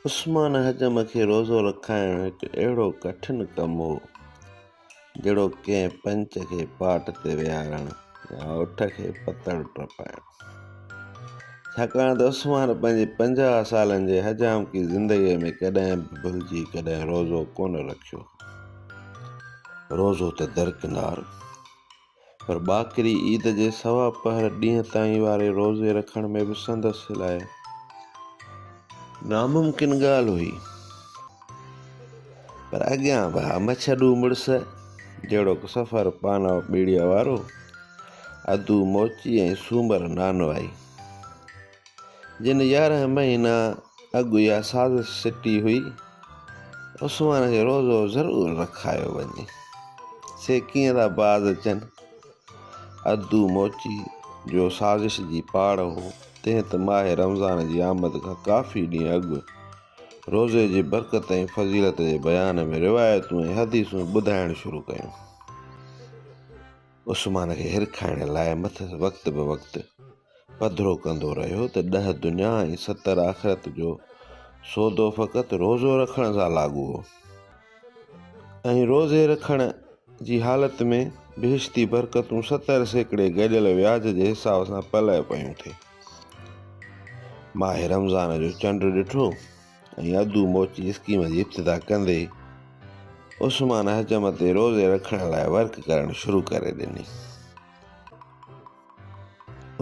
عثمان حجم کي روزو رکائڻ هڪ اهڙو ڪٺن ڪم هو، جهڙوڪ ڪنهن پنچ کي پاٽ تي ويهارڻ يا اٺ کي پتڻ ٽپائڻ. ڇاڪاڻ ته عثمان پنهنجي پنجاهه سالن جي حجامڪي زندگيء ۾ ڪڏهن به ڀلجي ڪڏهن روزو ڪونه رکيو هو. روزو ته درڪنار، پر ٻاڪري عيد جي سوا پهر ڏينهن تائين واري روزي رکڻ ۾ به سندس لاء ناممڪن ڳالهه هئي پر اڳيان به مڇڏو مڙس جهڙوڪ سفر پانو ٻيڙيء وارو ادو موچي ۽ سومر نانوائي جن يارهن مهينا اڳ اها سازش سٽي هئي عثمان کي روزو ضرور رکايو وڃي سي ڪيئن ٿا باز اچن ادو موچي جو سازش جي پاڙ هو تنهن ته ماهه رمضان جي آمد کان ڪافي ڏينهن اڳ روزي جي برڪت ۽ فضيلت جي بيان ۾ روايتون ۽ حديثون ٻڌائڻ شروع ڪيون عثمان کي هرکائڻ لاء مٿس وقت به وقت پڌرو ڪندو رهيو ته ڏهه دنيا ۽ ستر آخرت جو سودو فقط روزو رکڻ سان لاڳو هو ۽ روزي رکڻ جي حالت ۾ بهشتي برڪتون ستر سيڪڙي گڏيل وياج جي حساب سان پلئه پيون ٿي ماهه رمضان جو چنڊ ڏٺو ۽ ادو موچي اسڪيم جي ابتدا ڪندي عثمان حجم تي روزي رکڻ لاء ورڪ ڪرڻ شروع ڪري ڏني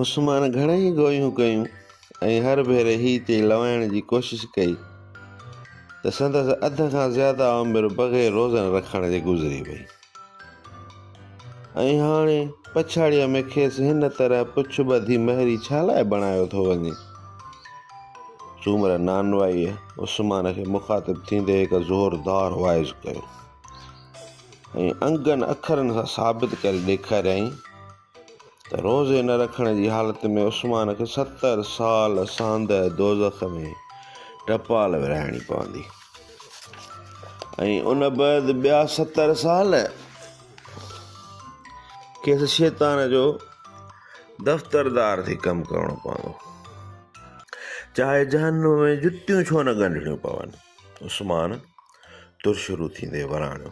عثمان گهڻيئي گويون ڪيون ۽ هر ڀيري هي تي لوائڻ جي ڪوشش ڪئي ته سندس اڌ کان زياده عمر بغير روزن رکڻ جي گذري وئي ۽ هاڻي پڇاڙيء ۾ کيس هن طرح پڇ ٻڌي مهري ڇا لاء بڻايو ٿو وڃي؟ سومره نانوائيء عثمان کي مخاطب ٿيندي هڪ زوردار واعظ ڪيو ۽ انگن اکرن سان ثابت ڪري ڏيکاريائين ته روزي نه رکڻ جي حالت ۾ عثمان کي ستر سال سانده دوزخ ۾ ٽپال ورهائڻي پوندي ۽ ان بعد ٻيا ستر سال کيس شيطان جو دفتردار ٿي ڪم ڪرڻو پوندو چاهي جهنم ۾ جتيون ڇو نه ڳنڍڻيون پون عثمان تر شروع ٿيندي وراڻيو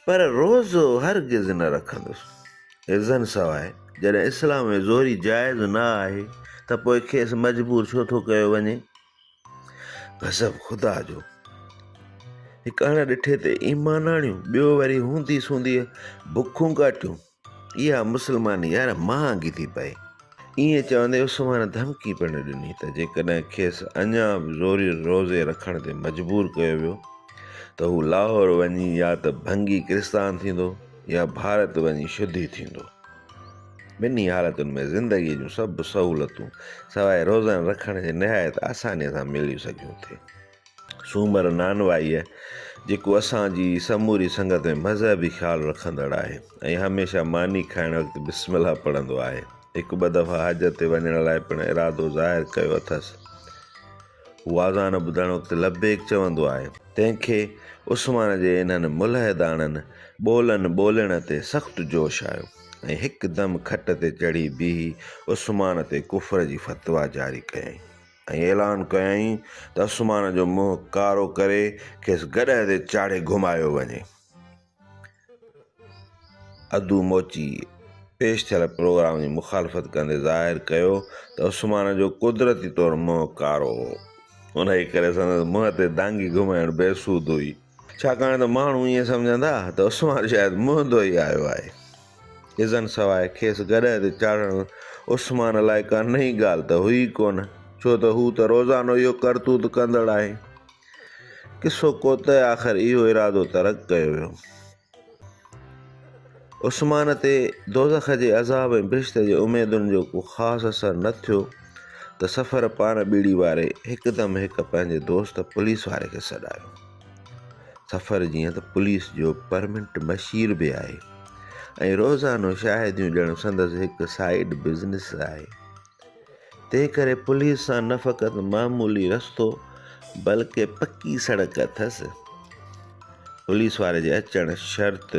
پر روزو هرگز نه رکندس ازن سواء جڏهن اسلام ۾ زوري جائز نه آهي ته پوء کيس مجبور ڇو ٿو ڪيو وڃي غضب خدا جو هڪ اڻ ڏٺي تي ايمان آڻيون ٻيو وري هوندي سوندي بکون ڪاٽيون اها مسلماني يار مهانگي ٿي پئي. ائين چوندي عثمان ڌمڪي پڻ ڏني ته جيڪڏهن کيس اڃا به زوريء روزي رکڻ تي مجبور ڪيو ويو ته هو لاهور وڃي يا ته ڀنگي ڪرستان ٿيندو يا ڀارت وڃي شدي ٿيندو. ٻنهي حالتن ۾ زندگيء جون سڀ سهولتون سواء روزن رکڻ جي نهايت آسانيء سان مليون سگهيون ٿي. سومر نانوائيء، جيڪو اسان جي سموري سنگت ۾ مذهبي خيال رکندڙ آهي ۽ هميشه ماني کائڻ وقت بسم الله پڙهندو آهي، هڪ ٻه دفعا حج تي وڃڻ لاء پڻ ارادو ظاهر ڪيو اٿس. هو آذان ٻڌڻ وقت لبيڪ چوندو آهي. تنهن کي عثمان جي انهن ملحداڻن ٻولن ٻولڻ تي سخت جوش آيو ۽ هڪدم کٽ تي چڙهي بيهي عثمان تي ڪفر جي فتويٰ جاري ڪيائين. ۽ اعلان ڪيائين ته عثمان جو منهن ڪارو ڪري کيس گڏهه تي چاڙهي گهمايو وڃي. ادو موچي پيش ٿيل پروگرام جي مخالفت ڪندي ظاهر ڪيو ته عثمان جو قدرتي طور منهن ڪارو هو، انهيء ڪري سندس منهن تي دانگي گهمائڻ بي سود هئي. ڇاڪاڻ ته ماڻهو ائين سمجهندا ته عثمان شايد مهندو ئي آيو آهي. ازن سواء کيس گڏهه تي چاڙهڻ عثمان لاء ڪا نئين ڳالهه ته هئي ئي ڪونه، ڇو ته هو ته روزانو اهو ڪرتوت ڪندڙ آهي. قصو ڪوتهه آخر اهو ارادو ترڪ ڪيو ويو. عثمان تي دوزخ جي عذاب ۽ بهشت جي اميدن جو ڪو خاص اثر نه ٿيو ته سفر پاڻ ٻيڙي واري هڪدم هڪ پنهنجي دوست پوليس واري کي سڏايو سفر جيئن ته پوليس جو پرمنٽ بشير به آهي ۽ روزانو شاهديون ڏيڻ سندس هڪ سائيڊ بزنس آهي تنهن ڪري پوليس سان نه فقط معمولي رستو بلڪه پڪي سڙڪ اٿس. پوليس واري جي اچڻ شرط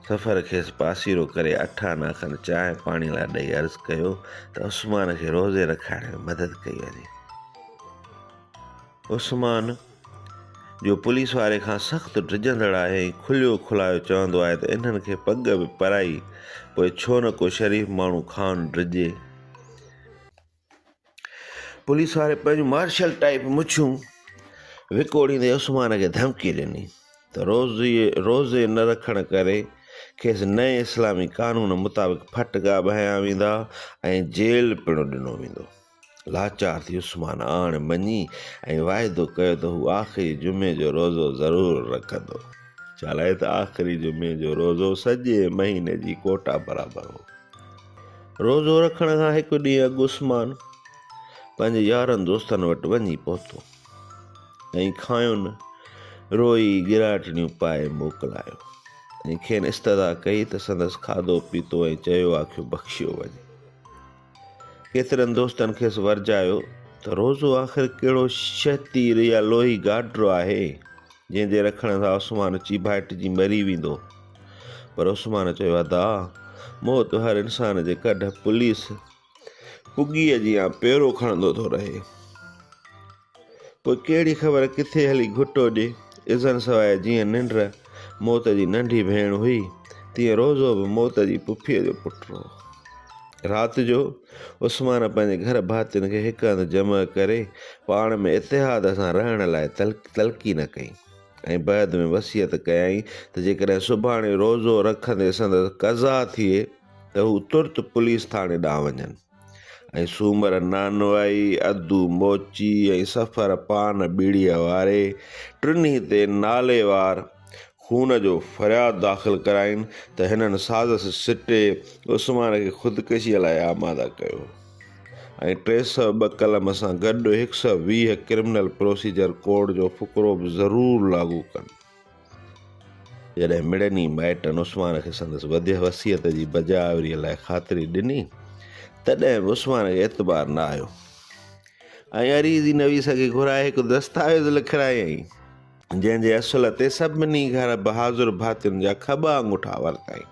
سفر کيس پاسيرو ڪري اٺ آنا کن چانهه پاڻي لاء ڏئي عرض ڪيو ته عثمان کي روزي رکائڻ ۾ مدد ڪئي وڃي. عثمان، جو پوليس واري کان سخت ڊڄندڙ آهي ۽ کليو کلايو چوندو آهي ته انهن کي پڳ به پرائي، پوء ڇو نه ڪو شريف ماڻهو کان ڊڄي. پوليس واري پنهنجون مارشل ٽائيپ مڇون وڪوڙيندي عثمان کي ڌمڪي ڏني ته روزي نه رکڻ ڪري کيس نئين اسلامي قانون مطابق ڦٽڪا به هنيا ويندا ۽ جيل پڻ ڏنو ويندو. لاچار ٿي عثمان آڻ مڃي ۽ واعدو ڪيو ته هو آخري جمعي جو روزو ضرور رکندو. ڇالاء ته آخري جمعي جو روزو سڄي مهيني جي ڪوٽا برابر هو. روزو رکڻ کان هڪ ڏينهن اڳ عثمان پنهنجي يارن دوستن وٽ وڃي پهتو ۽ کانئن روئي ڳراٽڙيون پائي موڪلايو ۽ کين استدعا ڪئي ته سندس کاڌو پيتو ۽ چيو آکيو بخشيو وڃي. ڪيترن دوستن کيس ورجايو ته روزو آخر ڪهڙو شهه تير يا لوهي گاڊرو آهي، جنهن جي رکڻ سان عثمان اچي ڀائٽجي مري ويندو. پر عثمان چيو، ادا! موت هر انسان جي ڪڍ پوليس پڳيء جيان پيرو کڻندو ٿو رهي. پوء ڪهڙي خبر ڪٿي هلي گهٽ اڏي. اذن سواء جيئن ننڊ موت جي ننڍي ڀيڻ هئي، تيئن روزو به موت جي پڦيء جو پٽ هو. رات جو عثمان پنهنجي گهر ڀاتين کي هڪ هنڌ جمع ڪري پاڻ ۾ اتحاد سان رهڻ لاء تلقين ڪئي ۽ بعد ۾ وصيت ڪيائين ته جيڪڏهن سڀاڻي روزو رکندي سندس قضا ٿئي ته هو ترت پوليس ٿاڻي ڏانهن وڃن. ۽ سومر نانوائي، ادو موچي ۽ سفر پان ٻيڙيء واري ٽنهي تي ناليوار خون جو فرياد داخل ڪراين ته هنن سازش سٽي عثمان کي خودڪشيء لاء آماده ڪيو ۽ ٽي سؤ ٻه قلم سان گڏ هڪ سؤ ويهه ڪرمنل پروسيجر ڪوڊ جو فقرو به ضرور لاڳو ڪن. جڏهن مڙني مائٽن عثمان کي سندس وڌيء وصيت جي بجا آوريء لاء خاطري ڏني، تڏهن به عثمان کي اعتبار نه آيو ۽ عريضي نويس کي گهرائي هڪ دستاويز لکرايائين، جنهن جي اصل تي سڀني گهر بهادر ڀاتين جا کٻا آڱوٺا ورتائين.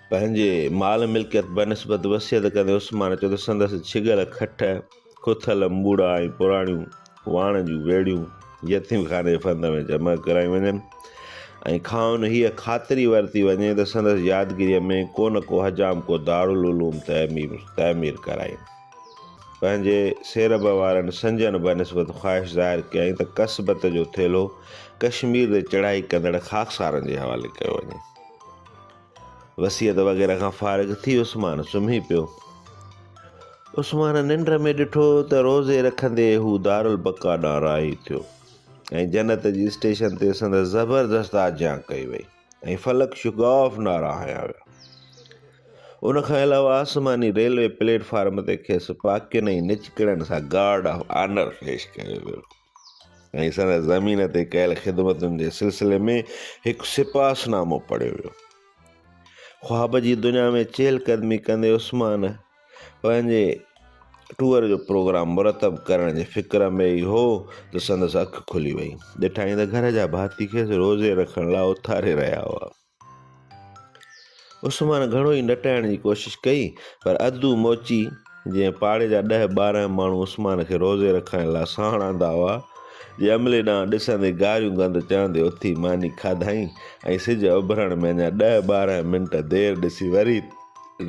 پنهنجي مال ملڪيت بنسبت وصيت ڪندي عثمان چيو ته سندس ڇڳل کٽ، ڪٿل امٻوڙا ۽ پراڻيون واڻ جون ويڙهيون يتيم خاني فند ۾ جمع ڪرايون وڃن ۽ کانئن هيء خاطري ورتي وڃي ته سندس يادگيريء ۾ ڪو نه ڪو حجام ڪو دارالعلوم تعمير تعمير ڪرائين. پنهنجي سيرڀ وارن سنجن بنسبت خواهش ظاهر ڪيائين ته ڪسبت جو ٿيلهو ڪشمير تي چڙهائي ڪندڙ خاڪسارن جي حوالي ڪيو وڃي. وصيت وغيره کان فارغ ٿي عثمان سمهي پيو. عثمان ننڊ ۾ ڏٺو ته روزي رکندي هو دارالبقا ڏانهن راهي ٿيو ۽ جنت جي اسٽيشن تي سندس زبردست آجيان ڪئي وئي ۽ فلڪ شگاف نعرا هنيا ويا. ان کان علاوه آسماني ريلوي پليٽ فارم تي کيس پاڪين ۽ نچڪڙن سان گارڊ آف آنر پيش ڪيو ويو. ۽ سندس زمين تي ڪيل خدمتن جي سلسلي ۾ هڪ سپاس نامو پڙهيو ويو خواب جي دنيا ۾ چهل قدمي ڪندي عثمان پنهنجي ٽوئر جو پروگرام مرتب ڪرڻ جي فڪر ۾ ئي هو ته سندس اک کلي وئي ڏٺائين ته گهر جا ڀاتي کيس روزي رکڻ لاء اٿاري رهيا هئا عثمان گهڻو ئي نٽائڻ جي ڪوشش ڪئي پر ادو موچي جنهن پاڙي جا ڏهه ٻارهن ماڻهو عثمان کي روزي رکائڻ لاء ساڻ آندا هئا، جي عملي ڏانهن ڏسندي گاريون گند چڙهندي اٿي ماني کاڌائين ۽ سج اڀرڻ ۾ اڃا ڏهه ٻارهن منٽ دير ڏسي وري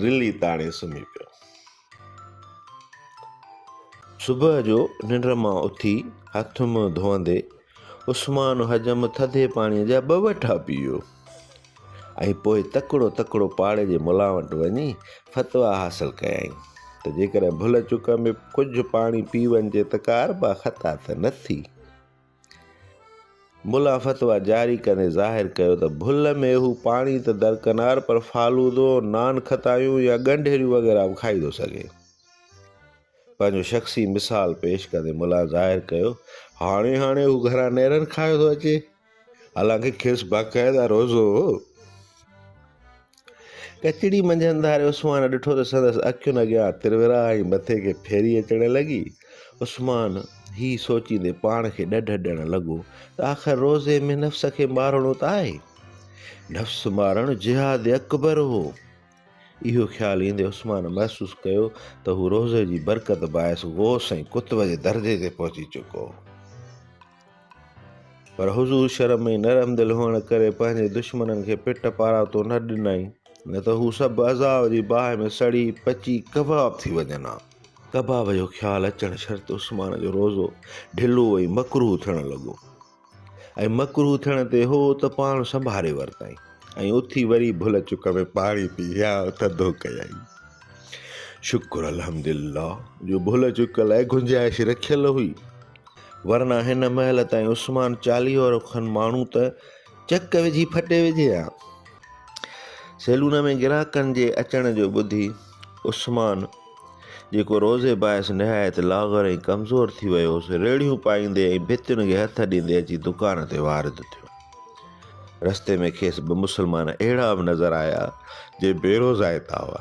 رلي تاڻي سمهي پيو. صبح جو ننڊ مان اٿي هٿ منهن ڌوئندي عثمان حجم ٿڌي پاڻي جا ٻه وٺا پيو ۽ پوء تڪڙو تڪڙو پاڙي جي ملا وٽ وڃي فتوا حاصل ڪيائين ته جيڪڏهن ڀل چڪ ۾ ڪجهه پاڻي پي وڃجي ته ڪاربا خطا ته نه ٿي ملا فتويٰ جاري ڪندي ظاهر ڪيو ته ڀل ۾ هو پاڻي ته درڪنار پر فالودو، نان کتايون يا ڳنڍيريون وغيره به کائي ٿو سگهي. پنهنجو شخصي مثال پيش ڪندي ملا ظاهر ڪيو هاڻي هاڻي هو گهران نيرن کائي ٿو اچي حالانڪه کيس باقاعده روزو هو. ڪچهري منجهه انڌاري عثمان ڏٺو ته سندس اکين اڳيان ترورا ۽ مٿي کي ڦيري اچڻ لڳي. عثمان هي سوچيندي پاڻ کي ڏڍ ڏيڻ لڳو ته آخر روزي ۾ نفس کي مارڻو ته آهي. نفس مارڻ جهاد اڪبر هو. اهو خيال ايندي عثمان محسوس ڪيو ته هو روزي جي برڪت باعث غوث ۽ قطب جي درجي تي پهچي چڪو هو. پر حضور شرم ۽ نرم دل هئڻ ڪري پنهنجي دشمنن کي پٽ پاراتو نه ڏنائين، نه ته هو سڀ عذاب جي باهه ۾ سڙي پچي ڪباب ٿي وڃن ها. ڪباب جو خيال اچڻ شرط عثمان جو روزو ڍلو ۽ مڪروه ٿيڻ لڳو ۽ مڪروه ٿيڻ تي هو ته پاڻ سنڀاري ورتائين ۽ اٿي وري ڀل چڪ ۾ پاڻي پي يا ٿڌو ڪيائين. شڪر الحمدلله جو ڀل چڪ لاء گنجائش رکيل هئي. ورنه هن مهل تائين عثمان چاليهو کن ماڻهو ته چڪ وجهي ڦٽي وجهي ها. سيلون ۾ گراهڪن جي اچڻ جو ٻڌي عثمان جيڪو روزي باعث نهايت لاغر ۽ ڪمزور ٿي ويو هوس، ريڙهيون پائيندي ۽ ڀتين کي هٿ ڏيندي اچي دڪان تي وارد ٿيو. رستي ۾ کيس ٻه مسلمان اهڙا به نظر آيا، جي بيروزائتا هئا.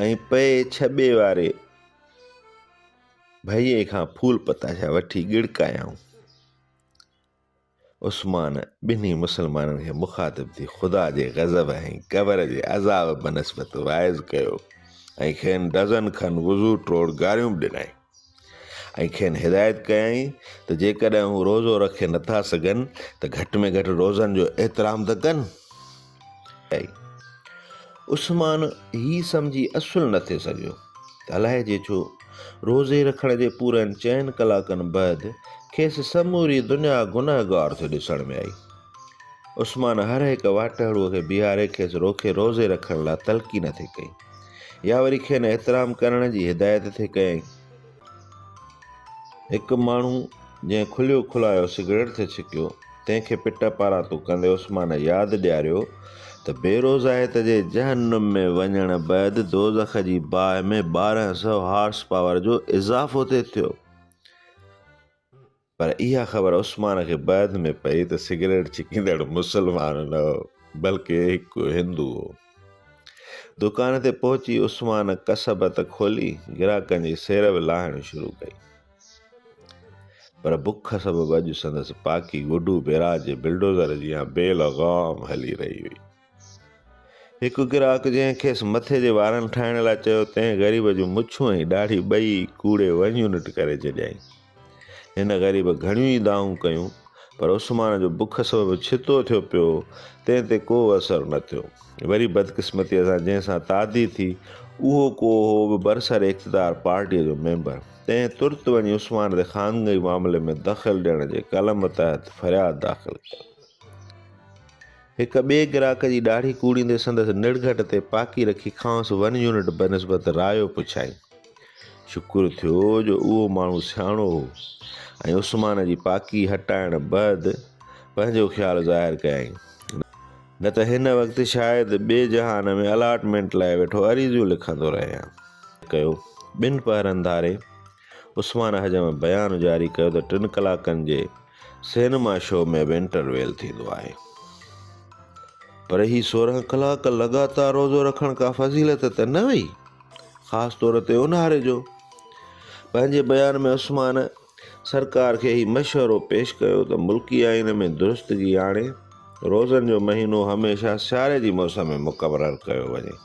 ۽ پئي ڇٻي واري ڀئي کان ڦول پتاشا وٺي ڳڙڪايائون. عثمان ٻنهي مسلمانن کي مخاطب ٿي خدا جي غضب ۽ قبر جي عذاب بنسبت واعظ ڪيو ۽ کين ڊزن کن وضو ٽوڙ گاريون به ڏنائين. ۽ کين هدايت ڪيائين ته جيڪڏهن هو روزو رکي نٿا سگهن ته گهٽ ۾ گهٽ روزن جو احترام ته ڪن. عثمان هي سمجهي اصل نه ٿي سگهيو ته الائجي ڇو روزي رکڻ جي پورن چئن ڪلاڪن بعد کيس سموري دنيا گنهگار ٿي ڏسڻ ۾ آئي. عثمان هر هڪ واٽهڙوء کي بيهاري کيس روکي روزي رکڻ لاء تلقين ٿي ڪئي. يا وري کين احترام ڪرڻ جي هدايت ٿي ڪيائين. هڪ ماڻهو جنهن کليو کلايو سگريٽ ٿي ڇڪيو، تنهن کي پٽ پاران تون ڪندي عثمان ياد ڏياريو ته بيروزائيت جي جهنم ۾ وڃڻ بعد دوزخ جي باهه ۾ ٻارهن سئو هارس پاور جو اضافو ٿي ٿيو. پر اها خبر عثمان کي بعد ۾ پئي ته سگريٽ ڇڪيندڙ مسلمان نه هو، بلڪه هڪ هندو هو. دڪان تي پهچي عثمان ڪسبت کولي گراهڪن جي سير به لاهڻ شروع ڪئي. پر بک سبب اڄ سندس پاڪي گڊو بيراج جي بلڊوزر جيان بي لغام هلي رهي هئي. هڪ گراهڪ جنهن کيس مٿي جي وارن ٺاهڻ لاء چيو تنهن غريب جون مڇون ۽ ڏاڙهي ٻئي ڪوڙي ون يونٽ ڪري ڇڏيائين. هن غريب گهڻيون ئي دانهون ڪيون پر عثمان جو بک سبب ڇتو ٿيو پيو هو تنهن تي ڪو اثر نه ٿيو. وري بدقسمتيء سان جنهن سان تعدي ٿي اهو ڪو هو به برسر اقتدار پارٽيء جو ميمبر تنهن ترت وڃي عثمان تي خانگئي معاملي ۾ دخل ڏيڻ جي قلم تحت فرياد داخل ڪيو. هڪ ٻئي گراهڪ جي ڏاڙهي ڪوڙيندي سندس نڙگهٽ تي پاڪي رکي کانئس ون يونٽ بنسبت رايو پڇائين. شڪر ٿيو جو اهو ماڻهو سياڻو هو ۽ عثمان جي پاڪي هٽائڻ بعد پنهنجو خيال ظاهر ڪيائين. نه ته هن وقت شايد ٻئي جهان ۾ الاٽمينٽ لاء ويٺو عريضيون لکندو رهي هان. ڪيو. ٻن پهرن ڌاري عثمان احجم بيان جاري ڪيو ته ٽن ڪلاڪن جي سينما شو ۾ به انٽر ويل ٿيندو آهي پر هي سورهن ڪلاڪ لڳاتار روزو رکڻ ڪا فضيلت ته نه هئي خاص طور تي اونهاري جو پنهنجي بيان ۾ عثمان سرڪار کي هي مشورو پيش ڪيو ته ملڪي آئين ۾ درستگي آڻي روزن جو مهينو هميشه سياري جي موسم ۾ مقرر ڪيو وڃي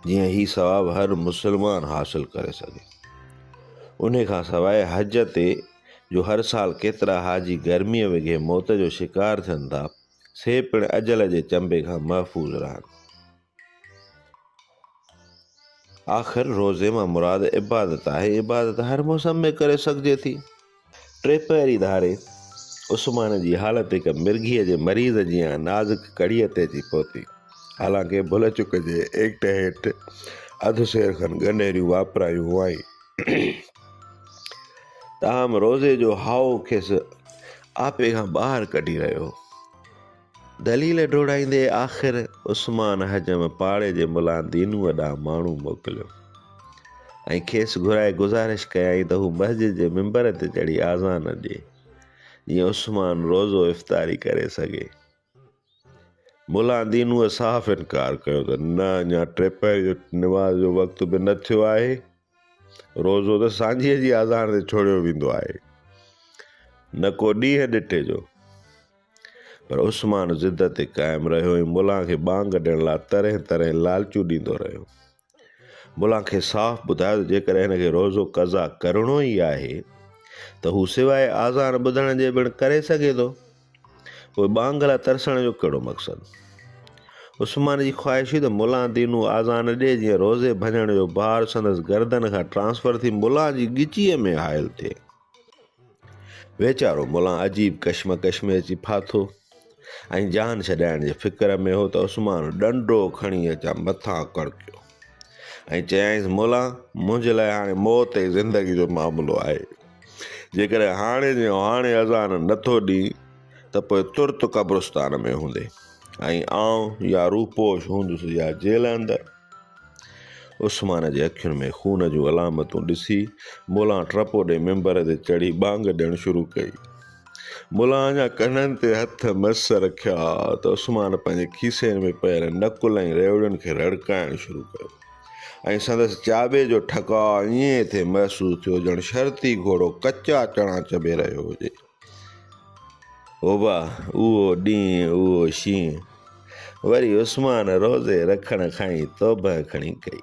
جيئن هي ثواب هر مسلمان حاصل ڪري سگهي انهي کان سواء حج تي جو هر سال ڪيترا حاجي گرمي وگهي موت جو شڪار ٿين ٿا سي پڻ اجل جي چنبي کان محفوظ رهن آخر روزي مان مراد عبادت آهي عبادت هر موسم ۾ ڪري سگهجي ٿي. ٽي پهري ڌاري عثمان جي حالت هڪ مرگهيء جي مريض جيان نازڪ ڪڙيء تي اچي پهتي. حالانڪه ڀل چڪ جي ايڪٽ هيٺ اڌ سير کن ڳنڍيريون واپرايون هئائين، تاهم روزي جو هائو کيس آپي کان ٻاهر ڪڍي رهيو هو. دليل ڊوڙائيندي آخر عثمان حجم پاڙي جي ملا دينوء ڏانهن ماڻهو موڪليو ۽ کيس گهرائي گذارش ڪيائين ته هو مسجد جي منبر تي چڙهي آذان ڏي، جيئن عثمان روزو افطاري ڪري سگهي. ملا دينوء صاف انڪار ڪيو ته نه اڃا ٽي پهر جي نماز جو وقت به نه ٿيو آهي. روزو ته سانجهيء جي آزار تي ڇوڙيو ويندو آهي، نه ڪو ڏينهن ڏٺي جو. پر عثمان ضد تي قائم رهيو ۽ ملان کي ٻانگ ڏيڻ لاء ترهين ترهين لالچون ڏيندو رهيو. ملان کيس صاف ٻڌايو ته جيڪڏهن هن کي روزو قضا ڪرڻو ئي آهي ته هو سواء آذان ٻڌڻ جي پڻ ڪري سگهي ٿو. پوء ٻانگ لاء ترسڻ جو ڪهڙو مقصد؟ عثمان جي خواهش هئي ته ملان دينو آذان ڏئي جيئن روزي ڀڃڻ جو بار سندس گردن کان ٽرانسفر ٿي ملان جي ڳچيء ۾ حائل ٿئي. ويچارو ملان عجيب ڪشمڪش ۾ اچي ڦاٿو ۽ جان ڇڏائڻ جي فڪر ۾ هو ته عثمان ڏنڊو کڻي اچان مٿان ڪڙڪيو ۽ چيائينس ملان منهنجي لاء هاڻي موت ۽ زندگي جو معاملو آهي. جيڪڏهن هاڻي جي هاڻي اذان نه ٿو ڏئين ته پوء ترت قبرستان ۾ هوندي ۽ آئون يا روپوش هوندس يا جيل اندر. عثمان جي اکين ۾ خون جون علامتون ڏسي ملان ٽپو ڏئي ممبر تي چڙهي ٻانگ ڏيڻ شروع ڪئي. ملان اڃا ڪنن تي هٿ مس رکيا ته عثمان پنهنجي کيسين ۾ پيل نڪل ۽ ريوڙين کي رڙڪائڻ شروع ڪيو. ۽ سندس چاٻي جو ٺڪاء ائين ٿي محسوس ٿيو ڄڻ شرطي گهوڙو ڪچا چڻا چڀي رهيو هجي. اوبا اهو ڏينهن اهو شينهن وري عثمان روزي رکڻ کان ئي توبهه کڻي ڪئي.